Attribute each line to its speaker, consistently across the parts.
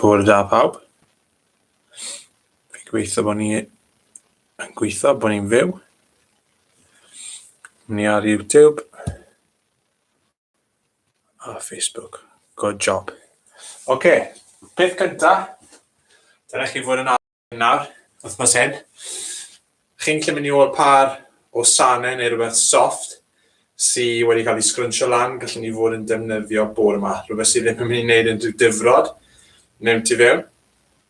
Speaker 1: Bore da pawb. Fi'n gweithio bod ni yn gweithio bod ni'n fyw. Ni ar YouTube. A Facebook. Good job. Oce, okay. peth cynta, dyna chi fod yn arfer nawr, wythnos hyn. Chi'n gallu mynd i ôl par o sanau neu rhywbeth soft sydd wedi cael ei sgrwnsio lan, gallwn ni fod yn defnyddio bore yma. Rhywbeth sydd ddim yn mynd i wneud unrhyw difrod mewn tu fewn.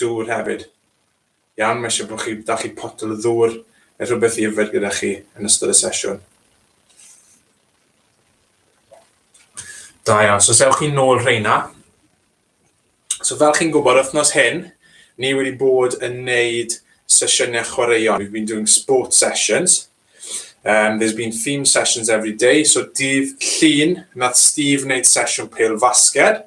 Speaker 1: Dŵr hefyd. Iawn, mae eisiau bod chi, da chi potel o ddŵr neu rhywbeth i yfed gyda chi yn ystod y sesiwn. Da iawn, so sewch chi'n nôl rheina. So fel chi'n gwybod, wythnos hyn, ni wedi bod yn neud sesiynau chwaraeon. We've been doing sport sessions. Um, there's been theme sessions every day. So dydd llun, nath Steve wneud sesiwn pêl fasged.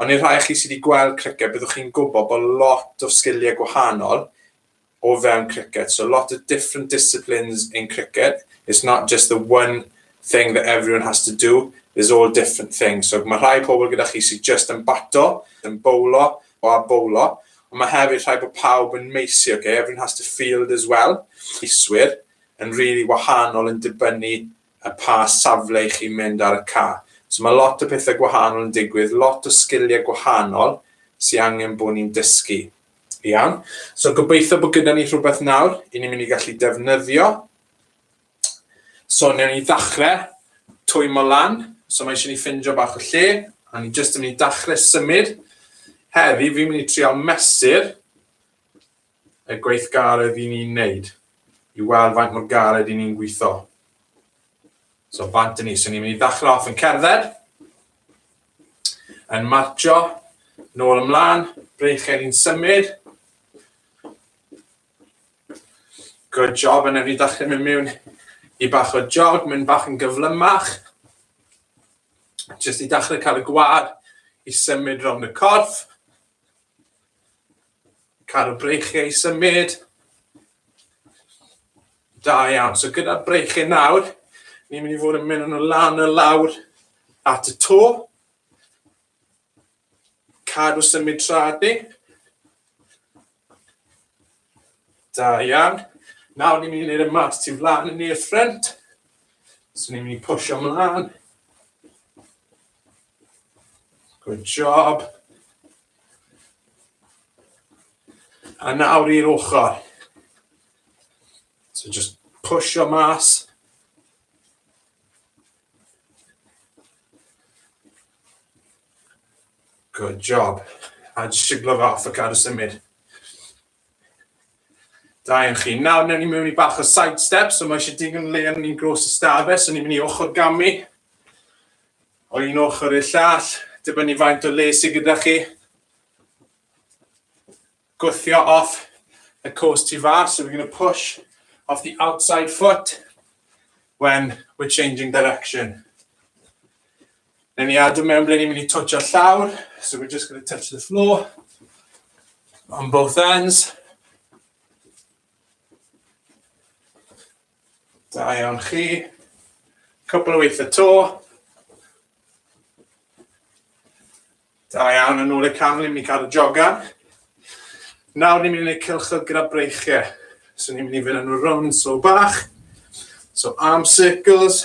Speaker 1: Ond i'r rhai o chi sydd wedi gweld criced, byddwch chi'n gwybod bod lot o sgiliau gwahanol o fewn criced. So lot o different disciplines in cricket. It's not just the one thing that everyone has to do. There's all different things. So mae rhai pobl gyda chi sydd just yn bato, yn bowlo, o a bowlo. Ond mae hefyd rhai bod pawb yn meisi, okay? Everyone has to field as well. Iswyr yn really wahanol yn dibynnu a pa safle i chi mynd ar y ca. So mae lot o pethau gwahanol yn digwydd, lot o sgiliau gwahanol sy'n angen bod ni'n dysgu. Iawn, so gobeithio bod gyda ni rhywbeth nawr i ni'n mynd i gallu defnyddio. So newn ni ddechrau twymo lan, so mae eisiau ni ffindio bach o lle, a ni jyst yn mynd i ddechrau symud. Heddi fi'n mynd i trial mesur y gweithgaredd i ni'n neud i weld faint mor galed i ni'n gwitho. So bant yn ni. So ni'n mynd i ddechrau off yn cerdded, yn martio, nôl ymlaen, breichau ni'n symud. Good job, yn efni ddechrau mynd mewn i bach o jog, mynd bach yn gyflymach. Just i dechrau cael y gwad i symud rhwng y corff. Cadw breichiau i symud. Da iawn. So gyda'r breichiau nawr, ni'n mynd i fod yn mynd nhw lan y lawr at y to. Cadw symud trad ni. Da iawn. Nawr ni'n mynd i wneud y mas tu flan yn i'r ffrent. So ni'n mynd i pwysio mlaen. Good job. A nawr i'r ochr. So just push your mass. Good job. A just siglo fe off a cadw symud. Da iawn chi. Nawr, newn ni mewn i bach o side step, so mae eisiau digon le yn ni'n gros y stafell, so ni'n mynd i ochr gamu, o un ochr i'r llall, dibynnu faint o le sydd gyda chi. Gwthio off y cwrs tu fas, so we're going to push off the outside foot when we're changing direction. Newn ni adw mewn ble ni'n mynd i twtio'r llawr. So we're just going to touch the floor on both ends. Da iawn chi. Cwpl o weithiau to. Da iawn, yn ôl y camel, ni'n mynd i cadw jogan. Nawr ni'n mynd i wneud cilchod gyda breichiau. So ni'n mynd i fynd yn y round so bach. So arm circles.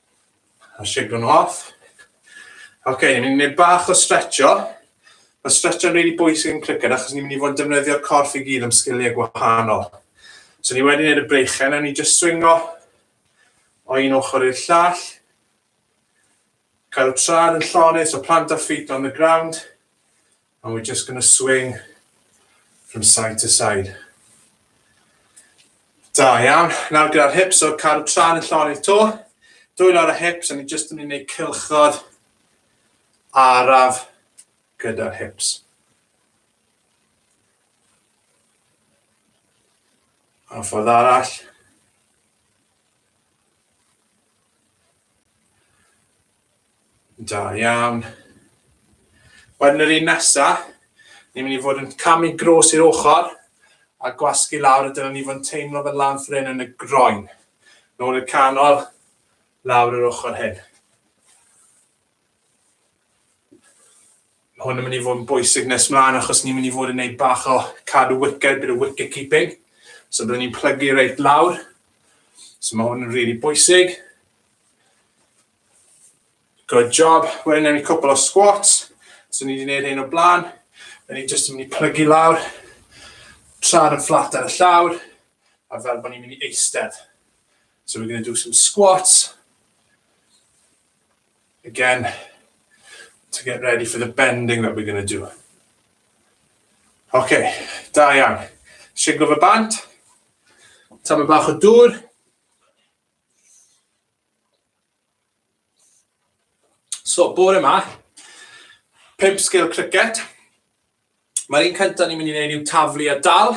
Speaker 1: A shake nhw off. Ok, ni'n mynd i wneud bach o stretcho. Mae stretcho'n rili really bwysig yn cricket achos ni'n mynd i fod yn defnyddio'r corff i gyd am sgiliau gwahanol. So ni wedi gwneud y breichau, newn ni just swingo o un ochr i'r llall. Cael y trad yn llonydd, so plant a feet on the ground. And we're just going to swing from side to side. Da iawn. Nawr gyda'r hips, so cadw tra'n y llonydd to. Dwy lawr y hips, a ni jyst yn mynd i cilchod araf gyda'r hips. A ffordd arall. Da iawn. Wedyn yr un nesa, ni'n mynd i fod yn camu gros i'r ochr a gwasgu lawr a dyna ni fod yn teimlo fel lan ffrin yn y groen. Nôl i'r canol, lawr yr ochr hyn. Hwn yn mynd i fod yn bwysig nes mlaen achos ni'n mynd i fod yn gwneud bach o cadw wicked, bit of wicket keeping. So byddwn ni'n plygu reit lawr. So mae hwn yn rili really bwysig. Good job. Wedyn newn ni cwpl o squats. So ni wedi gwneud hyn o blaen. Wedyn ni jyst yn mynd i plygu lawr. Traed yn fflat ar y llawr. A fel bod ni'n mynd i eistedd. So we're going to do some squats. Again, to get ready for the bending that we're going to do. OK, da iawn. Siglo fy bant. Tam y bach o dŵr. So, bore yma, pimp sgil cricet. Mae'r un cyntaf ni'n mynd i wneud yw taflu a dal.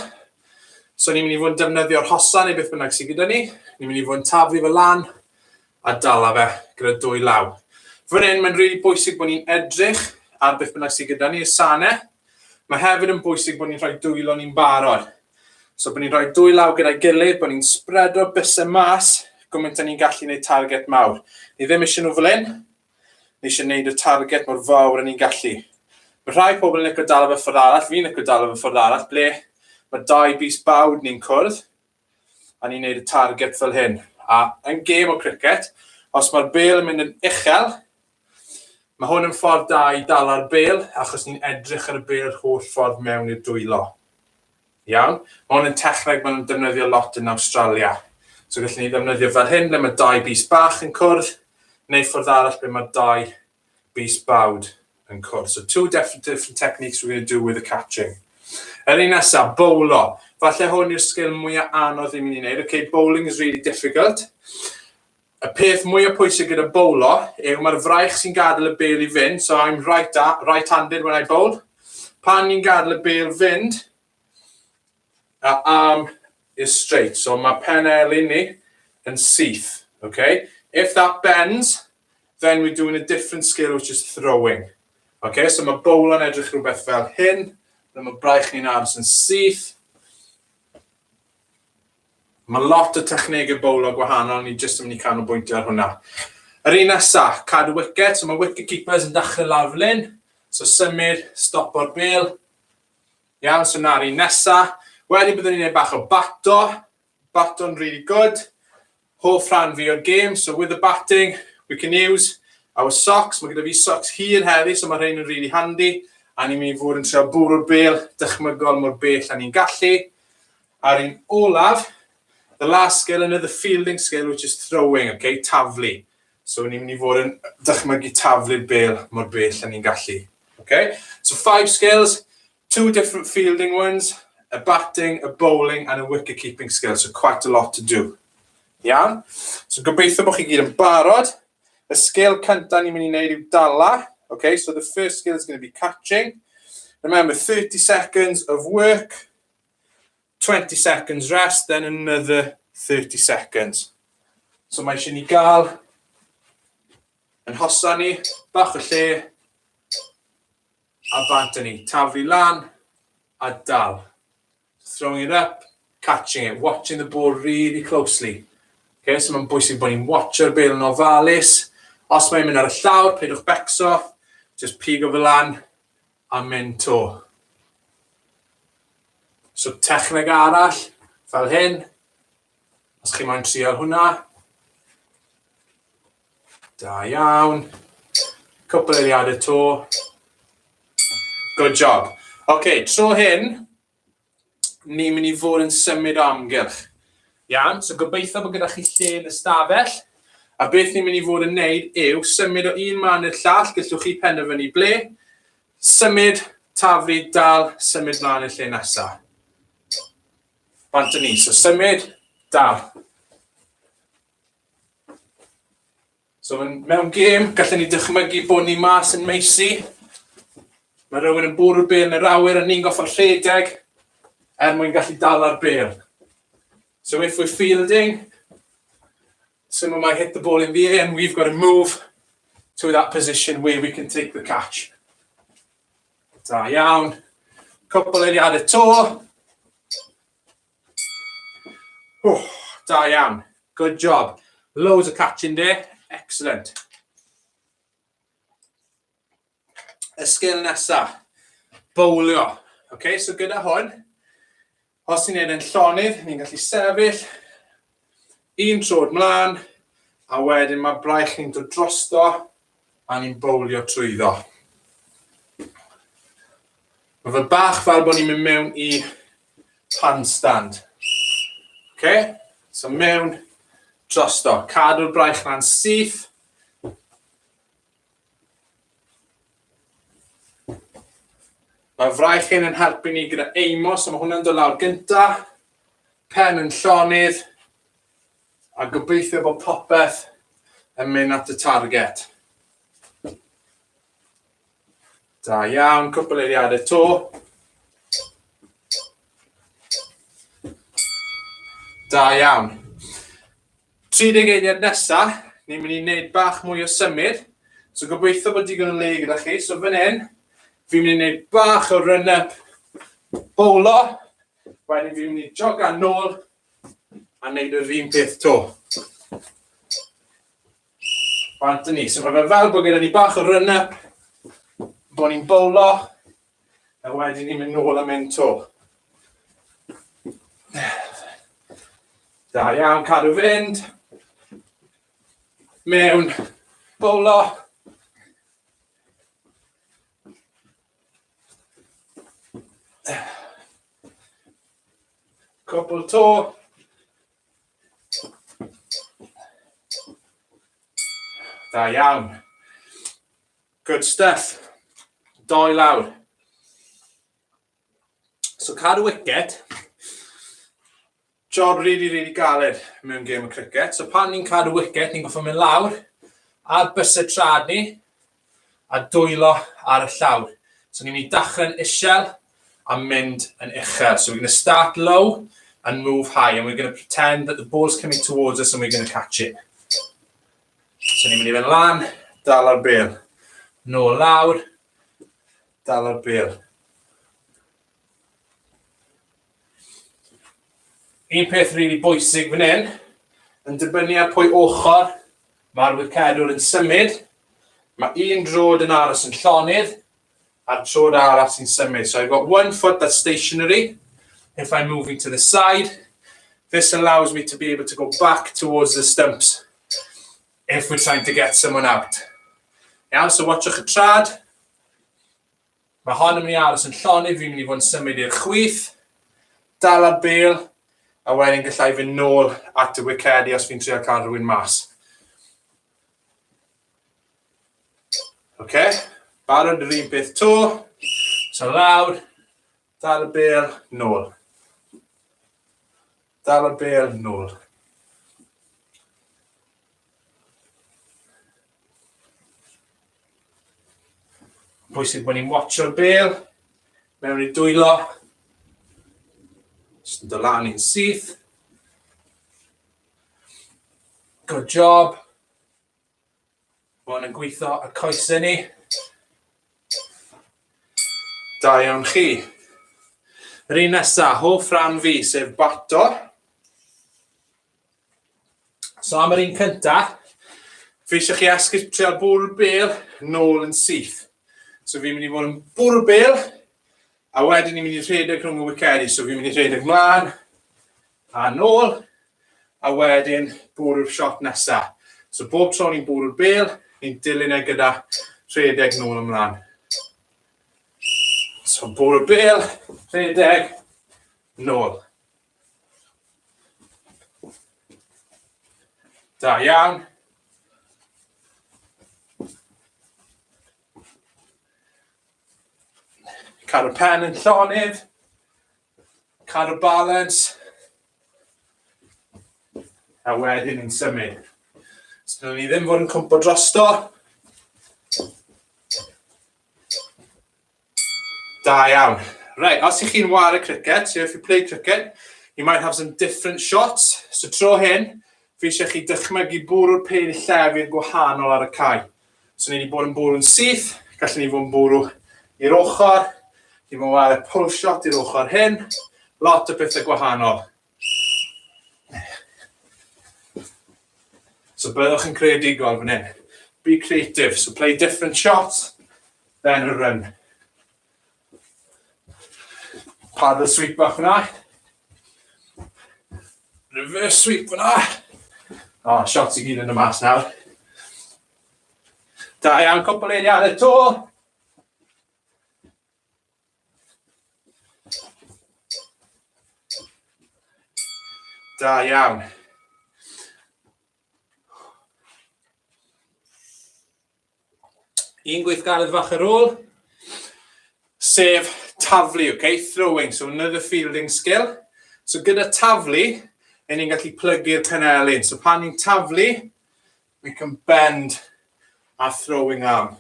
Speaker 1: So, ni'n mynd i fod yn defnyddio'r hosa neu beth bynnag sydd gyda ni. Ni'n mynd i fod yn taflu fy lan a dala fe gyda dwy law. Fy hyn, mae'n rili really bwysig bod ni'n edrych ar beth bynnag sydd gyda ni, y sane. Mae hefyd yn bwysig bod ni'n rhoi dwylo ni'n barod. So bod ni'n rhoi dwy law gyda'i gilydd, bod ni'n spredo bysau mas, gymaint a ni'n gallu gwneud target mawr. Ni ddim eisiau nhw fel hyn, ni eisiau gwneud y target mor fawr a ni'n gallu. Mae rhai pobl yn licio dal fy ffordd arall, fi'n licio dal fy ffordd arall, ble mae dau bus bawd ni'n cwrdd, a ni'n neud y target fel hyn. A yn gêm o cricet, os mae'r bel yn mynd yn uchel, mae hwn yn ffordd da i dala'r bel achos ni'n edrych ar y bel yr holl ffordd mewn i'r dwylo. Iawn? Mae hwn yn techneg maen nhw'n defnyddio lot yn Awstralia. So gallwn ni ddefnyddio fel hyn ble mae dau bys bach yn cwrdd, neu ffordd arall ble mae dau bys bawd yn cwrdd. So two different techniques we're going to do with the catching. Yr un nesaf, bowlo. Falle hwn yw'r sgil mwyaf anodd i mynd i wneud. Okay, bowling is really difficult. Y peth mwyaf pwysig gyda bowlo yw mae'r fraich sy'n gadael y bel i fynd. So I'm right-handed right when I bowl. Pan ni'n gadael y bel fynd, a arm is straight. So mae pen elin ni yn syth. Okay? If that bends, then we're doing a different skill which is throwing. Okay? So mae bowlo'n edrych rhywbeth fel hyn. Dyna mae braich ni'n aros yn syth. Mae lot o technegau bowlo gwahanol, ni jyst yn mynd i canolbwyntio ar hwnna. Yr un nesaf, cadw wicket, so mae wicket keepers yn dachrau lawr fan hyn. So symud, stopo'r bel, Iawn, so na'r un nesa. Wedyn byddwn ni'n gwneud bach o bato. Bato'n really good. Hoff rhan fi o'r game, so with the batting, we can use our socks. Mae gyda fi socks hir heddi, so mae rhain yn really handy. A ni'n mynd i fod yn trio bwrw'r bel dychmygol mor bell a ni'n gallu. A'r un olaf, the last skill, another fielding skill, which is throwing, okay, taflu. So ni'n mynd i fod yn dychmygu taflu bêl mor bell a ni'n gallu. Okay? So five skills, two different fielding ones, a batting, a bowling and a wicket keeping skill. So quite a lot to do. Iawn? So gobeithio bod chi gyd yn barod. Y sgil cyntaf ni'n mynd i wneud yw dala. Okay? So the first skill is going to be catching. Remember, 30 seconds of work. 20 seconds rest, then another 30 seconds. So mae eisiau ni gael yn hosan ni, bach o lle, a bant ni. Taflu lan, a dal. Throwing it up, catching it, watching the ball really closely. Okay, so mae'n bwysig bod ni'n watcho'r bel yn ofalus. Os mae'n mynd ar y llawr, peidiwch becso, just pigo fel lan, a mynd to. So techneg arall, fel hyn, os chi moyn trial hwnna. Da iawn. Cwpl eiliadau to. Good job. OK, tro hyn, ni'n mynd i fod yn symud o amgylch. Iawn, so gobeithio bod gyda chi lle yn y stafell. A beth ni'n mynd i fod yn neud yw symud o un man i'r llall, gallwch chi penderfynu ble, symud, taflu, dal, symud mlaen i'r lle nesaf. Bant yn ni, so symud, dal. So yn mewn gêm, gallen ni dychmygu bod ni mas yn meisi. Mae rhywun yn bwrw'r bel yn yr awyr a ni'n goffa'r rhedeg er mwyn gallu dala'r bel. So if we're fielding, someone might hit the ball in the air and we've got to move to that position where we can take the catch. Da iawn. Cwpl eiliadau to. Oh, da iawn. Good job. Loads of catching there. Excellent. Y sgil nesa, bowlio. Okay, so gyda hwn, os ni'n neud yn llonydd, ni'n gallu sefyll, Un troed mlaen, a wedyn mae braich ni'n dod drosto a ni'n bowlio trwyddo. Mae fe bach fel bod ni'n mynd mewn i handstand. Okay? So mewn drosto. Cadw'r braich na'n syth. Mae'r fraich hyn yn helpu ni gyda eimo, so mae hwnna'n dod lawr gynta. Pen yn llonydd. A gobeithio bod popeth yn mynd at y target. Da iawn, cwpl eiriadau to. Da iawn. 30 eiliad nesa, ni'n mynd i neud bach mwy o symud, so gobeithio bod digon o le gyda chi, so fan hyn, fi'n mynd i neud bach o run up, bowlo, wedyn fi'n mynd i jogan nôl, a neud yr un peth to. Bant ni, so mae fe fel bod gyda ni bach o run up, bod ni'n bowlo, A wedyn ni'n mynd nôl a mynd to. Da iawn, cadw fynd. Mewn, bowlo. Cwpl to. Da iawn. Good stuff. Doi lawr. So cadw wicket. Job really, really galed mewn gêm o cricket. So pan ni'n cadw wicket, ni'n goffa mynd lawr a bus y trad ni a dwylo ar y llawr. So ni'n mynd i dachrau'n isel a mynd yn uchel. So we're going to start low and move high and we're going to pretend that the ball's coming towards us and we're going to catch it. So ni'n mynd i fynd lan, dal ar bel. Nôl lawr, dal ar bel. Un peth rili really bwysig fan hyn, yn dibynnu ar pwy ochr mae'r wicedwr yn symud, mae un drod yn aros yn llonydd, A'r tro'r arall sy'n symud. So I've got one foot that's stationary. If I'm moving to the side, this allows me to be able to go back towards the stumps if we're trying to get someone out. Iawn, yeah, so watchwch y trad. Mae hon yn mynd i aros yn llonydd, fi'n mynd i fod yn symud i'r chwyth, dal ar bel, a wedyn gallai fy nôl at y wicedi os fi'n trio cael rhywun mas. Oce, barod yr un peth to. So lawr, dal y bel, nôl. Dal y bel, nôl. Pwysig bod ni'n watcho'r bel, mewn i dwylo. Just yn dylan i'n syth. Good job. Mae hwn yn gweithio ar coesau ni. Da iawn chi. Yr un nesaf, hoff rhan fi, sef bato. So am yr un cyntaf, fi eisiau chi esgyrtio'r bwrw bel nôl yn syth. So fi'n mynd i fod yn bwrw bel, a wedyn ni'n mynd i rhedeg rhwng y wicedi. So fi'n mynd i rhedeg mlaen, A nôl, a wedyn bwrw'r shot nesa. So bob tro ni'n bwrw'r bêl, ni'n dilyn e gyda rhedeg nôl ymlaen. So bwrw'r bêl, rhedeg, nôl. Da iawn. Cael y pen yn llonydd. Cadw balans. A wedyn ni'n symud. Os dyn ni ddim fod yn cwmpo drosto. Da iawn. Right, os ych chi'n war y cricket, so if you play cricket, you might have some different shots. So tro hyn, fi eisiau chi dychmygu bwrw'r pêl llef i'r gwahanol ar y cae. So ni wedi bod yn bwrw'n syth, gallwn ni fod yn bwrw i'r ochr, chi'n mynd ar y pull shot i'r ochr hyn, lot o pethau gwahanol. So byddwch yn creadigol fan hyn. Be creative, so play different shots, then a run. Paddle sweep bach fyna. Reverse sweep fyna. O, oh, shots i gyd yn y mas nawr. Da iawn, cwpl eiriau ar y to. Da iawn. un gweithgaredd fach ar ôl, sef taflu, okay? throwing, so another fielding skill. So gyda taflu, yn ni'n gallu plygu'r penelin. So pan ni'n taflu, we can bend our throwing arm.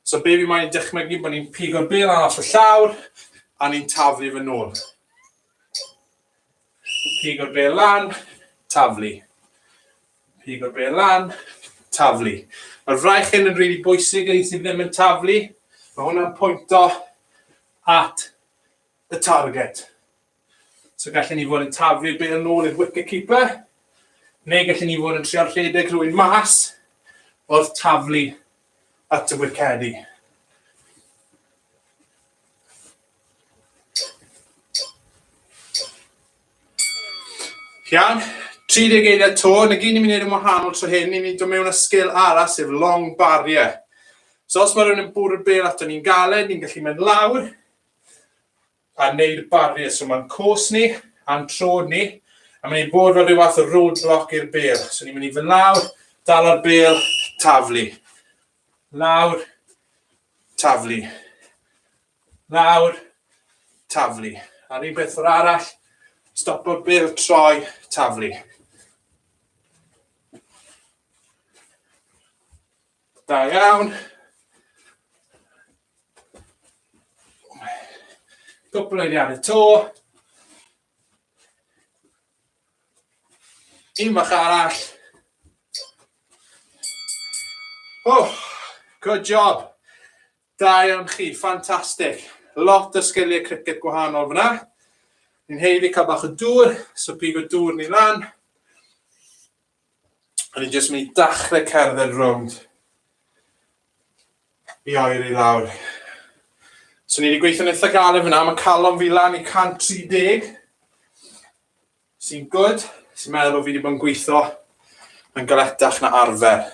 Speaker 1: So be fi moyn dychmygu bod ni'n pigo'r bel arall y llawr a ni'n taflu fy nôl. Pigo'r bel lan, taflu. Pigo be lan. Taflu. Mae'r fraich hyn yn rili bwysig yn un sydd ddim yn taflu. Mae hwnna'n pwynto at y target. So gallen ni fod yn taflu'r bel yn ôl i'r wicket-keeper, neu gallen ni fod yn trio rhedeg rhywun mas wrth taflu at y wicedi. Iawn, 30 geiriau to, yn y gyn ni'n mynd i wneud yn wahanol tro hyn, ni'n mynd i mewn â sgil arall, sef long barrier. So os mae rhywun yn bwrw bel ato ni'n galed, ni'n gallu mynd lawr a wneud barrier. So mae'n cwrs ni a'n trod ni, a mae'n ei bod fel rhyw fath o roadblock i'r bel. So ni'n mynd i fy lawr, dal ar bel, taflu. Lawr, taflu. Lawr, taflu. A'r un peth o'r arall, stop o'r byr, troi, taflu. Da iawn. Cwpl oeddi ar y to. Dim bach arall. Oh, good job. Da iawn chi, ffantastig. Lot o sgiliau cricet gwahanol fyna. Ni'n heiddi cael bach o dŵr, so pig o dŵr ni lan. O'n i'n jyst mynd i dachrau cerdded rownd i oer i lawr. So ni wedi gweithio'n eitha galed fyna, mae calon fi lan i 130, sy'n gwyd, sy'n meddwl bod fi wedi bod yn gweithio yn galetach na arfer.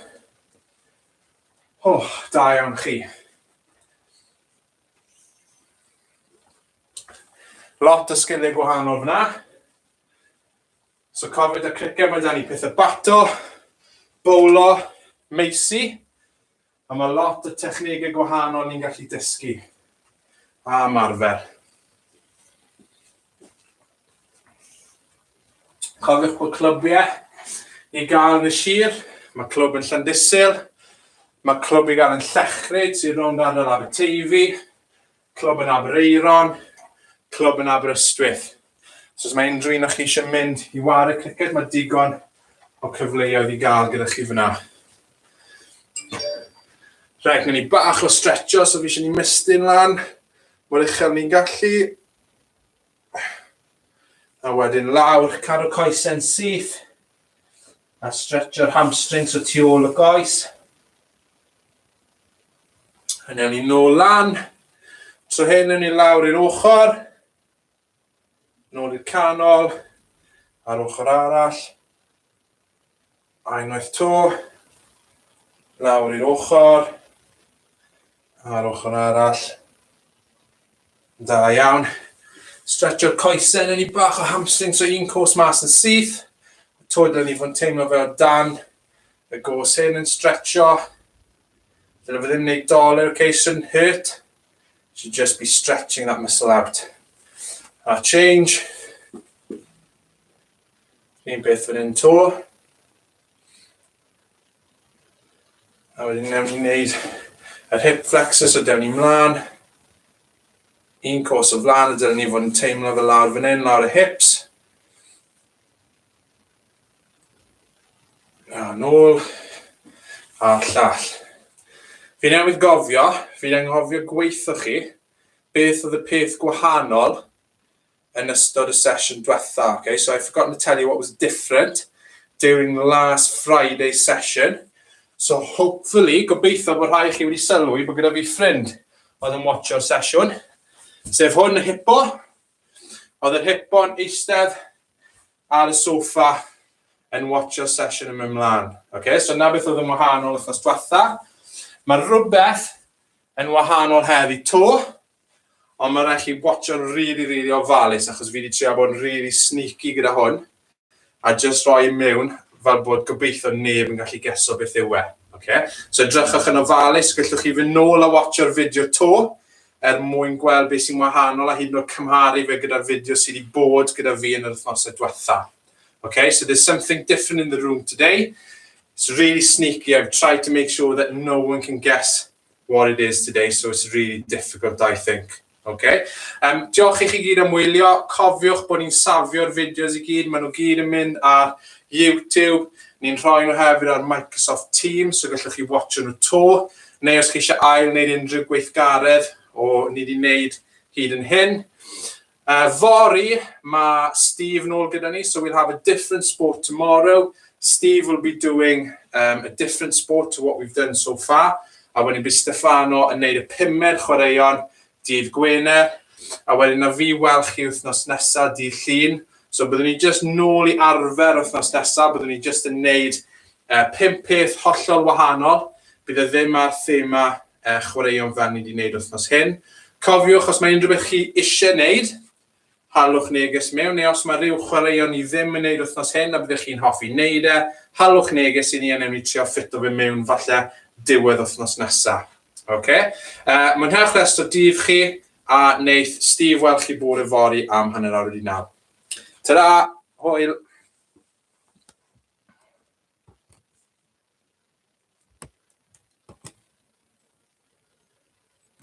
Speaker 1: O, oh, da iawn chi. Lot o sgiliau gwahanol fyna. So cofio da cricket mae dan ni pethau bato, bowlo, meisi, a mae lot o technegau gwahanol ni'n gallu dysgu a marfer. Cofiwch bod clybiau i gael yn y sir, mae clwb yn Llandysil, mae clwb i gael yn Llechryd sy'n rownd ardal Aberteifi, Clwb yn Aberaeron, clwb yn Aberystwyth. So os mae unrhyw un o chi eisiau mynd i ware criced, mae digon o cyfleoedd i gael gyda chi fyna. Rhaid gwneud ni bach o stretcho, so fi eisiau ni mistyn lan, mor uchel ni'n gallu. A wedyn lawr, cadw coesau'n syth, a stretcho'r hamstrings o tu ôl y goes. A newn ni nôl lan. Tro hyn newn ni lawr i'r ochr. Nôl i'r canol. A'r ochr arall. A unwaith to. Lawr i'r ochr. A'r ochr arall. Da iawn. Stretcho'r coesau, newn ni bach o hamstring, so un cwrs mas yn syth. Twyd, newn ni fod yn teimlo fel dan Y gos hyn yn stretcho. Dyna fe ddim wneud dollar, okay, shouldn't hurt. Should just be stretching that muscle out. A change. Un beth fan hyn to. A wedyn newn ni wneud yr hip flexors o dewn ni mlaen. Un cos o flaen, a dyna ni fod yn teimlo fe lawr fan hyn, lawr y hips. A nôl a llall. Fi newydd gofio, fi'n anghofio gweitho chi, beth oedd y peth gwahanol yn ystod y sesiwn diwetha, okay? So I've forgotten to tell you what was different during last Friday's session. So hopefully, gobeithio bod rhai chi wedi sylwi bod gyda fi ffrind oedd yn watcho'r sesiwn, sef hwn y hipo, Oedd yr hipo'n eistedd ar y sofa yn watcho sesiwn yn mynd mlaen. Okay, so na beth oedd yn wahanol wrthnos diwetha. Mae rhywbeth yn wahanol heddi to, ond mae'n rhaid chi watcho'n rili, rili ofalus, achos fi wedi trio bod yn rili sneaky gyda hwn. A jyst rhoi e mewn fel bod gobeithio neb yn gallu geso beth yw e. Ok? So edrychwch yn ofalus, gellwch chi fynd nôl a watsio'r fideo 'to er mwyn gweld beth sy'n wahanol a hyd yn oed cymharu fe gyda'r fideo sydd wedi bod gyda fi yn yr wythnosau diwetha. Ok? So there's something different in the room today. It's really sneaky. I've tried to make sure that no one can guess what it is today, so it's really difficult, I think. Ok, yym diolch i chi gyd am wylio, cofiwch bod ni'n safio'r fideos i gyd, maen nhw gyd yn mynd ar YouTube, ni'n rhoi nhw hefyd ar Microsoft Teams, so gallwch chi watcho nhw to, neu os chi eisiau ail wneud unrhyw gweithgaredd o ni wedi wneud hyd yn hyn. Uh, fory, mae Steve nôl gyda ni, so we'll have a different sport tomorrow. Steve will be doing um, a different sport to what we've done so far. A wedyn bydd Stefano yn neud y pumed chwaraeon dydd Gwener, a wedyn na fi wel chi wythnos nesa dydd Llun, so byddwn ni jyst nôl i arfer wythnos nesa, byddwn ni jyst yn neud yy pump peth hollol wahanol, bydd e ddim ar thema yy chwaraeon fel ni di neud wythnos hyn. Cofiwch os mae unrhyw beth chi isie neud, Haliwch neges mewn neu os mae rhyw chwaraeon ni ddim yn neud wythnos hyn a byddech chi'n hoffi neud e, haliwch neges i ni a newn ni trio ffito fe mewn falle diwedd wythnos nesa. Oce? Yy, mwynhewch rest o dydd chi, a neith Steve weld chi bore fory am hanner awr wedi naw. Ta-ra! Hwyl!